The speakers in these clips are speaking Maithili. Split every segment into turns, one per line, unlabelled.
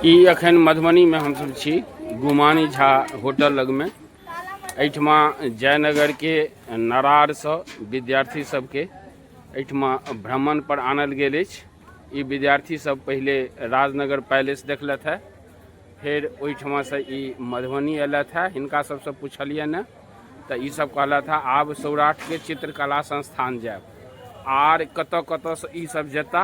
ई एखन मधुबनीमे हमसभ छी गुमानी झा होटल लगमे एहिठमा जयनगरके नरारसँ विद्यार्थी सभके एहिठमा भ्रमणपर आनल गेल अछि ई विद्यार्थीसभ पहिले राजनगर पैलेस देखलथि हेँ फेर ओहिठमासँ ई मधुबनी अयलथि हेँ हिनका सभसँ पुछलियनि हेँ तऽ ईसभ कहलथि हेँ आब सौराठके चित्रकला संस्थान जायब आर कतय कतयसँ ईसभ जेता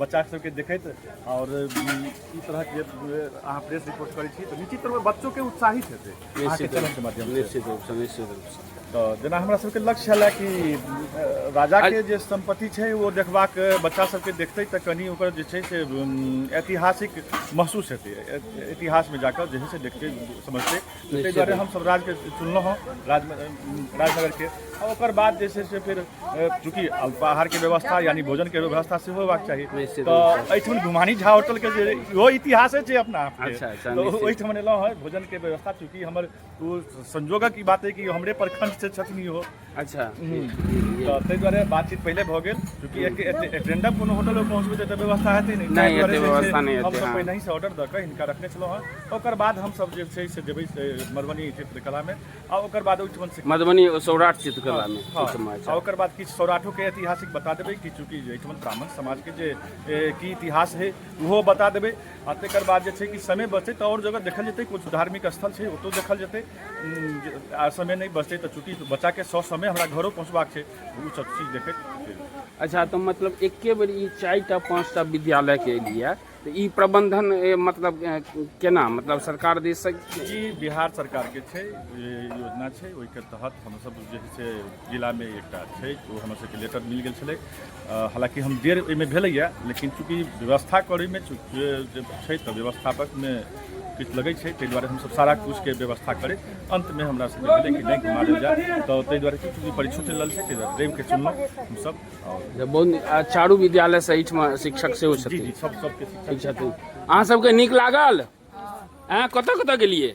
बच्चा सबके देखैत और ई तरह के अहाँ प्रेस रिपोर्ट करै छी तऽ निश्चित रूप बच्चो के उत्साहित हेतै अहाँके चैनल के माध्यम से निश्चित रूप से निश्चित
रूप से तऽ जेना हमरा सबके
लक्ष्य छलै कि अ, राजा के जे संपत्ति छै ओ देखबाक बच्चा सबके देखतै तऽ कनि ओकर जे छै से उम, ऐतिहासिक महसूस हेतै ऐ- इतिहासमे जाकऽ जे छै से देखतै समझतै ताहि दुआरे हमसभ राज्यके चुनलहुँ हँ राज राजनगरके आ ओकर बाद जे छै से फेर चूँकि बाहरके व्यवस्था यानि भोजनके व्यवस्था सेहो होयबाक चाही तऽ एहिठाम गुमानी झा होटलके जे इहो इतिहासे छै अपना अच्छा, अच्छा, ओहिठाम
एलहुँ हँ
भोजनके व्यवस्था चूँकि हमर ओ संयोगक ई बात अइ कि हमरे प्रखंड से छथिन इहो अच्छा तऽ ताहि दुआरे बातचीत पहिले भऽ गेल चूँकि एक- एक- एजेंडम कोनो होटल पर पहुँचबै तऽ एतऽ व्यवस्था हेतै नहि ताहि हेतै, दुआरे जे छै व्यवस्था नहि
हेतै, हमसभ हँ। पहिने से ऑर्डर दऽ कऽ
हिनका रखने छलहुँ हँ ओकर बाद हमसभ जे छै से जेबै से मधुबनी चित्रकलामे आ ओकर बाद ओहिठमन से मधुबनी सौराठ
चित्रकला में हाँ, चित्र में, आ ओकर बाद
किछु सौराठो के ऐतिहासिक बता देबै कि चूँकि एहिठमन ब्राह्मण समाज के जे ए, की इतिहास है ओहो बता देबै आ तकर बाद जे छै कि समय बचतै तऽ आओर जगह देखल जेतै किछु धार्मिक स्थल छै ओतौ देखल जेतै उम, जे- आ समय नहि बचतै तऽ चूँकि बच्चाके सौ समय हमरा घरो पहुँचबाक छै ओ सब चीज देखैत फेर अच्छा तऽ मतलब
एके बेर ई चारि टा पाँच टा विद्यालय के लिए तऽ ई प्रबंधन ए, मतलब ए, केना मतलब सरकार दे सक जी बिहार
सरकारके छै ई योजना छै ओहिके तहत हमसभ जे छै से जिलामे एकटा छै ओ हमरसभके लेटर मिल गेल छलै हालांकि हम देर एहिमे भेलैए लेकिन चूँकि व्यवस्था करैमे छै तऽ व्यवस्थापकमे किछु लगै छै ताहि दुआरे हमसभ सारा किछुके व्यवस्था करैत अन्तमे हमरा सभके भेलै कि नहि घुमा देल जाय तऽ ताहि दुआरे कि चूँकि परीक्षो चलि रहल छै ताहि दुआरे रविके चुनलहुँ हमसभ आओर
चारू विद्यालय से एहिठमा शिक्षक सेहो जी छथिन जी सभ सभके शिक्षक ठीक
छथिन अहाँ सबके
नीक लागल हँ कतऽ कतऽ गेलियै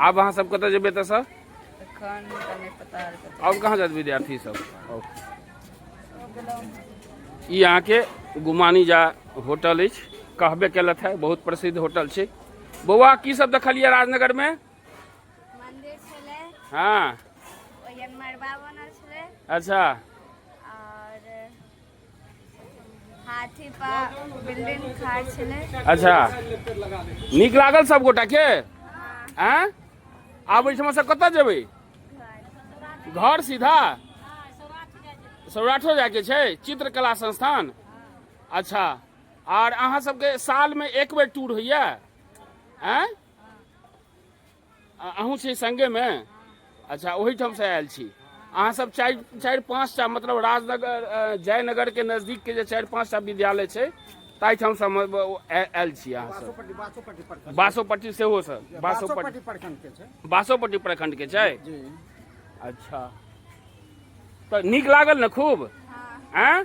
आब अहाँ सब कतऽ जेबै एतऽसँ एखन तऽ
नहि पता आर कतऽ आओर कहाँ जायत विद्यार्थी
सब आओर ई अहाँके गुमानी जा होटल अछि कहबे केलथि है बहुत प्रसिद्ध होटल छै बौआ की सब देखलियै राजनगरमे मंदिर
छलै हँ
ओहिमे
मरबा बनल छलै अच्छा हाथी पर बिल्डिंग खाड़ छलै अच्छा
नीक लागल सब गोटा के हैं आब एहिठाम से कतऽ जेबै घर सीधा सौराठो जाके छै चित्रकला संस्थान अच्छा आर अहाँ सबके साल में एक बेर टूर होइया हैं अ- अहूँ छी संगेमे अच्छा ओहिठामसँ आयल छी अहाँसभ चारि चारि पाँचटा मतलब राजनगर अ, जयनगरके नजदीकके जे चारि पाँचटा विद्यालय छै ताहिठामसँ हम ब- ओ- आय- आयल छी अहाँसभ बासोपट्टी बासोपट्टी प्रखंड बासोपट्टी सेहो सर बासोपट्टी बासोपट्टी प्रखंड के छै बासोपट्टी प्रखंडके छै जी अच्छा तऽ नीक लागल ने खूब आँय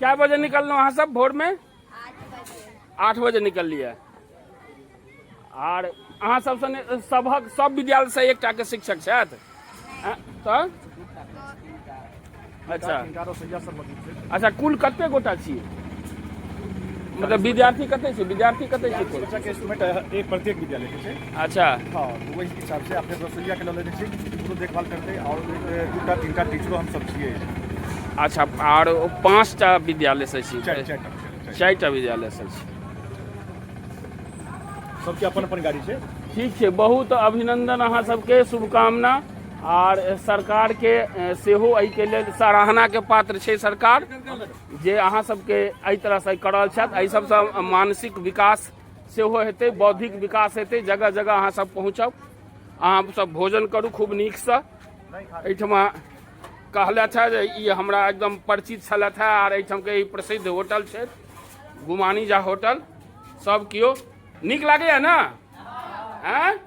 कए बजे निकललहुँ अहाँ सब भोरमे आठ बजे निकललियै आर अहाँ सबसँ ने- सभक सब विद्यालयसँ एकटा के शिक्षक छथि अ, तऽ अच्छा
अच्छा कुल कते गोटा
छी मतलब विद्यार्थी कते छी विद्यार्थी कते छी कुल शिक्षक के इंस्ट्रूमेंट
एक प्रत्येक विद्यालय के छै अच्छा हँ तऽ
ओहि
हिसाबसँ अपने रसोइयाके लऽ लेने छी ओकरो देखभाल करतै आओर दू टा तीन टा टीचरो हमसभ छियै अच्छा
आर पाँच टा विद्यालय से छी चारि चारि टा चारि टा। चारि टा विद्यालय से छी
सबके अपन अपन गाड़ी छै ठीक छै बहुत
अभिनंदन अहाँ सबके शुभकामना आर सरकार के ए, सेहो एहि के लेल सराहना के पात्र छै सरकार जे अहाँ सबके एहि तरह से करल छथि एहि सबसँ मानसिक विकास सेहो हेतै बौद्धिक विकास हेतै जगह जगह अहाँ सब पहुँचब अहाँ सब भोजन करू खूब नीकसँ एहिठमा कहलथि है जे ई हमरा एकदम परिचित छलथि है आर एहिठामके ई प्रसिद्ध होटल छै गुमानी झा होटल सब केओ नीक लागैए ने आँय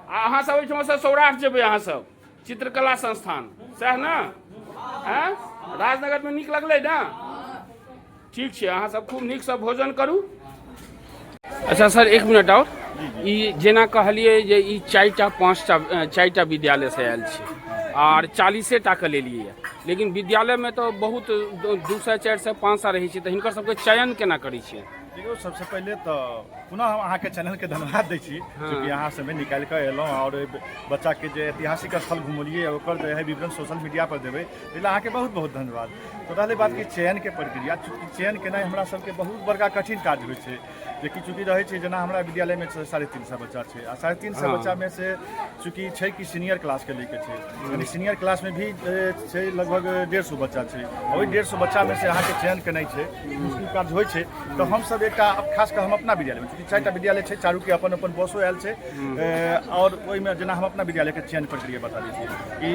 आ अहाँ सब एहिठाम से सौराठ जेबै अहाँ सब चित्रकला संस्थान सएह ने आँय राजनगरमे नीक लगलै ने ठीक छै अहाँ सब खूब नीक से भोजन करू अच्छा सर एक मिनट और ई जेना कहलिए जे ई चारिटा पाँचटा अ, चारिटा विद्यालय से आयल छी आर चालीसे टा के लेलिए ये। लेकिन विद्यालय में तो बहुत दो दू सए चारि सए पाँच सए रहै छै तऽ हिनकर सबके चयन केना करै छियै देखियौ सबसे पहिले
तऽ पुनः हम अहाँके चैनल के धन्यवाद दै छी चूँकि अहाँ समय निकालि कऽ एलहुँ आओर बच्चाके जे ऐतिहासिक स्थल घुमौलियै ओकर जे है विवरण सोशल मीडिया पर देबै एहिला अहाँके बहुत बहुत धन्यवाद तो रहलै बात कि चयनके प्रक्रिया चूँकि चयन केनाइ हमरा सबके बहुत बड़का कठिन काज होइ छै जेकि चूँकि रहै छै जेना हमरा विद्यालयमे छै साढ़े तीन सए बच्चा छै आ साढ़े तीन सए बच्चामे से चूँकि छै कि सीनियर क्लासके लैके छै यानी सीनियर क्लासमे भी ए, छै लगभग डेढ़ सए बच्चा छै आ ओहि डेढ़ सए बच्चामे से अहाँके चयन केनाइ छै मुश्किल काज होइ छै तऽ हमसब एकटा खास कऽ हम अपना विद्यालयमे चूँकि चारिटा विद्यालय छै चारूके अपन अपन बसो आयल छै ए, आओर ओहिमे जेना हम अपना विद्यालयके चयन प्रक्रिया बता दै छी कि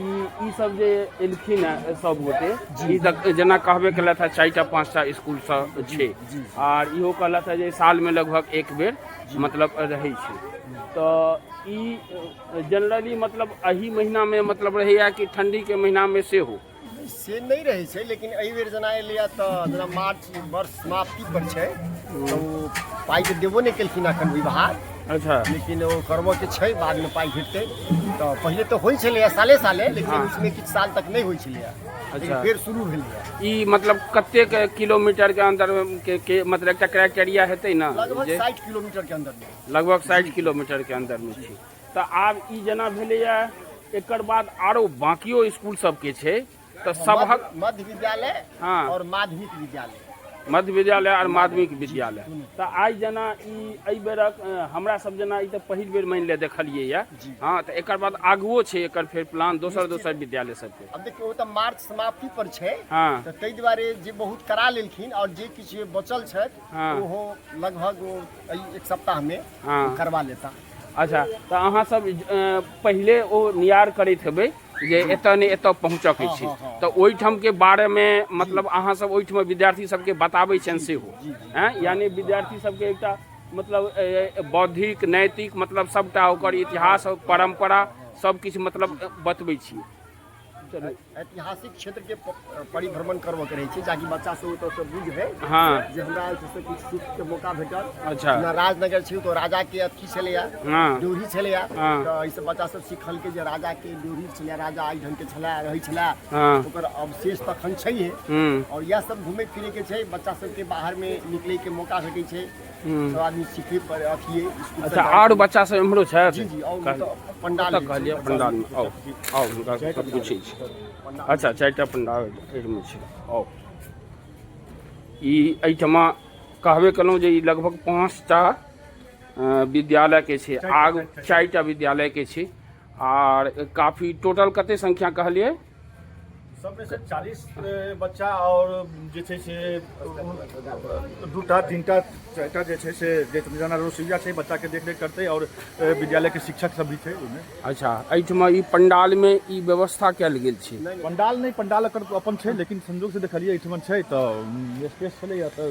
ई ई सब जे एलखिन हैं सब गोटे ई तक जेना कहबे केलथि हैं चारिटा पाँचटा स्कूल सब छै आर इहो कहलथि हैं जे साल में लगभग एक बेर मतलब रहै छै तऽ ई जनरली मतलब एहि महीना में मतलब रहैया कि ठंडी के महीना में सेहो से नहि रहै
छै लेकिन एहि बेर जेना एलैए तऽ जेना मार्च वर्ष समाप्ति पर छै तऽ ओ पाइ तऽ देबो नहि केलखिन एखन विभाग अच्छा लेकिन
ओ करबऽ
के छै बादमे पाइ भेटतै तऽ पहिले तऽ होइ छलैए साले साले लेकिन हाँ। उसमे किछु साल तक नहि होइ छलैए लेकिन अच्छा। फेर शुरू भेलैए ई मतलब
कतेक किलोमीटर के अंदर के, के मतलब एकटा क्राइटेरिया हेतै ने लगभग जे साठि किलोमीटरके
अन्दरमे लगभग साठि किलोमीटर
के अंदर में छै तऽ आब ई जेना भेलैए एकर बाद आरो बाँकियो इसकुल सबके छै तऽ सबहक मध्य विद्यालय
हँ। और माध्यमिक
विद्यालय
मध्य विद्यालय
आर माध्यमिक विद्यालय तऽ आइ जेना ई एहि बेरक अ, हमरा सब जेना ई तऽ पहिल बेर मानि ले देखलियै यऽ हँ तऽ एकर बाद आगुओ छै एकर फेर प्लान दोसर दोसर विद्यालय सबके अब देखियो वो तो मार्च
समाप्ति पर छै हाँ। तो ताहि दुआरे
जे
बहुत करा लेलखिन और जे किछु बचल छथि हाँ। ओहो
लगभग
ओ एहि एक सप्ताह में हाँ। करवा लेता अच्छा तऽ
अहाँ सब पहिले ओ नियार करैत हेबै जे एतऽ ने एतऽ पहुँचऽ के छै तऽ ओहिठाम के बारे मे मतलब अहाँ सब ओहिठाम विद्यार्थी सबके बताबै छनि सेहो हैं यानी विद्यार्थी सबके एकटा मतलब ए, बौद्धिक नैतिक मतलब सबटा ओकर इतिहास परंपरा सब किछु मतलब बतबै छी ऐतिहासिक क्षेत्र
के परिभ्रमण करबो करे छी जाकि बच्चा सब ओतऽ से बुझे हां जे हमरा
आयल से कुछ
सुख के मौका भेटल अच्छा ना राजनगर
छी तो
राजा के अथी छले या हां ड्योढ़ी छले
या हाँ।
तो ऐसे बच्चा
सब
सिखल के जे राजा के ड्योढ़ी छले राजा आई ढंग के छले रही छले हां ओकर
अवशेष
तखन छै हम्म और यह सब घूमे फिरे के छै बच्चा सब के बाहर में निकले के मौका भेटे छै सब आदमी सीखे पर अथी स्कूल अच्छा आर बच्चा सब
एम्हरो छथि जी जी और मतलब
पंडाल ओतऽ कहलियै पंडाल मे
आउ आउ हुनका सबसँ पूछै छी अच्छा चारिटा पंडाल एहिमे छै आउ ई एहिठमा कहबे केलहुँ जे ई लगभग पाँचटा विद्यालयके छै आग चारिटा विद्यालयके छै आर काफी टोटल कते संख्या कहलियै सबमे
से 40 बच्चा और जे छै से दूटा तीनटा चारिटा जे छै से जे जेना रोसैया छै बच्चाके देखरेख करतै और विद्यालयके शिक्षक सब भी छै ओहिमे अच्छा एहिठमा
ई पंडालमे ई व्यवस्था कयल गेल छै पंडाल नहि पंडाल
एकर अपन छै लेकिन संजोग से देखलियै एहिठमन छै तऽ स्पेस छलैया तऽ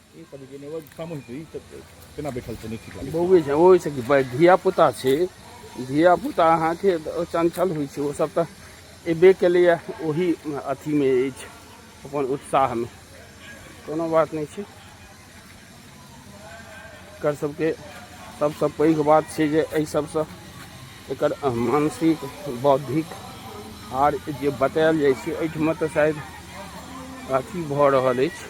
बौए छै ओहिसँ कि बै-
धियापुता छै धियापुता अहाँके चञ्चल होइ छै ओसभ तऽ अयबे केलैए ओही अथीमे अछि अपन उत्साहमे कोनो बात नहि छै एकर सभके सभसँ पैघ बात छै जे एहि सभसँ एकर मानसिक बौद्धिक आर जे बतायल जाइ छै एहिठमा तऽ शायद अथी भऽ रहल अछि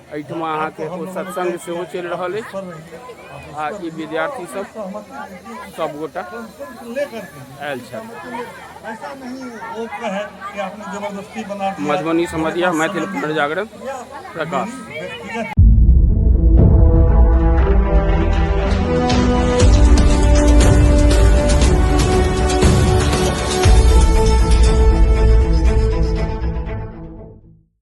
एहिठाम अहाँके एगो सत्संग सेहो चलि रहल अछि आ ई विद्यार्थी सब सबगोटा आयल छथि मधुबनी समझिया मैथिल पुनर्जागरण प्रकाश